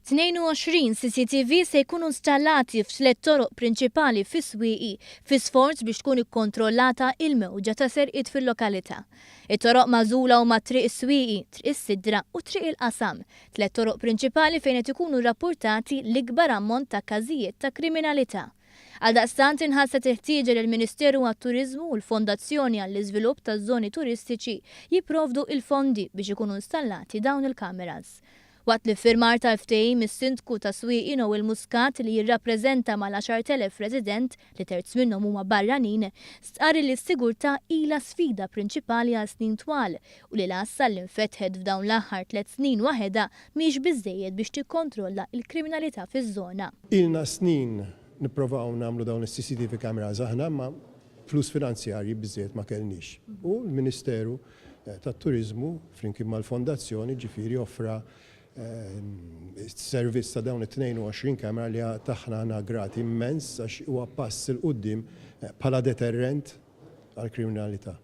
22 CCTV se jkunu installati f'tliet toroq prinċipali fis-swieqi fi sforz biex tkun ikkontrollata il-mewġa ta' serqiet fil-lokalità. It-toroq magħżula huma Triq is-Swieqi, Triq is-Sidra u Triq il-Qasam, tliet toroq prinċipali fejn qed ikunu rrappurtati l-ikbar ammont ta' każijiet ta' kriminalità. Għaldaqstant inħasset il-ħtieġa li l-Ministeru għat-Turiżmu u l-Fondazzjoni għall-Iżvilupp taż-Żoni Turistiċi jipprovdu il-fondi biex ikunu installati dawn il-kameras. Waqt l-iffirmar tal-ftehim is-Sindku ta' Swieqi Noel Muscat li jirrappreżenta mal-10,000 resident li terz minnhom huma barranin stqarr illi s-sigurtà ilha sfida prinċipali għal snin twal u li l-għassa li nfetħet f'dawn l-aħħar tliet snin waħedha mhix biżżejjed biex tikkontrolla l-kriminalità fiż-żona. Ilna snin nipprovaw nagħmlu dawn is-CCTV cameras aħna imma flus finanzjarji biżżejjed ma kellniex. U l-Ministeru tat-Turiżmu flimkien mal-Fondazzjoni ġifieri offra s-servizz ta' dawn it-22 camera li għad aħna aħna grati immens għax huwa pass 'il quddiem bħala deterrent għall-kriminalità.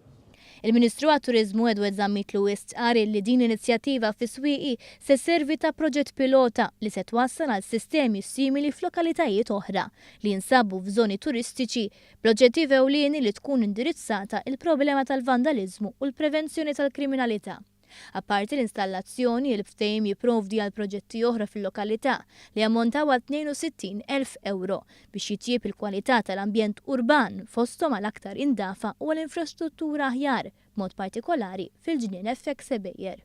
Il-Ministru għat-Turiżmu Edward Zammitlu istqarr li din l-inizjattiva fis-swieqi se sservi ta' proġett pilota li se twassal għal sistemi simili f'lokalitajiet oħra li jinsabu f'żoni turistiċi bl-oġġettiv ewlieni li tkun indirizzata il-problema tal-vandaliżmu u l-prevenzjoni tal-kriminalità. Apparti l-installazzjoni, il-ftehim jipprovdi għal proġetti oħra fil-lokalità li jammontaw għal 62 elf ewro biex jitjieb il-kwalità tal-ambjent urban, fosthom għal aktar indafa u għal infrastruttura aħjar, b'mod partikolari fil-Ġnien FX Sebeier.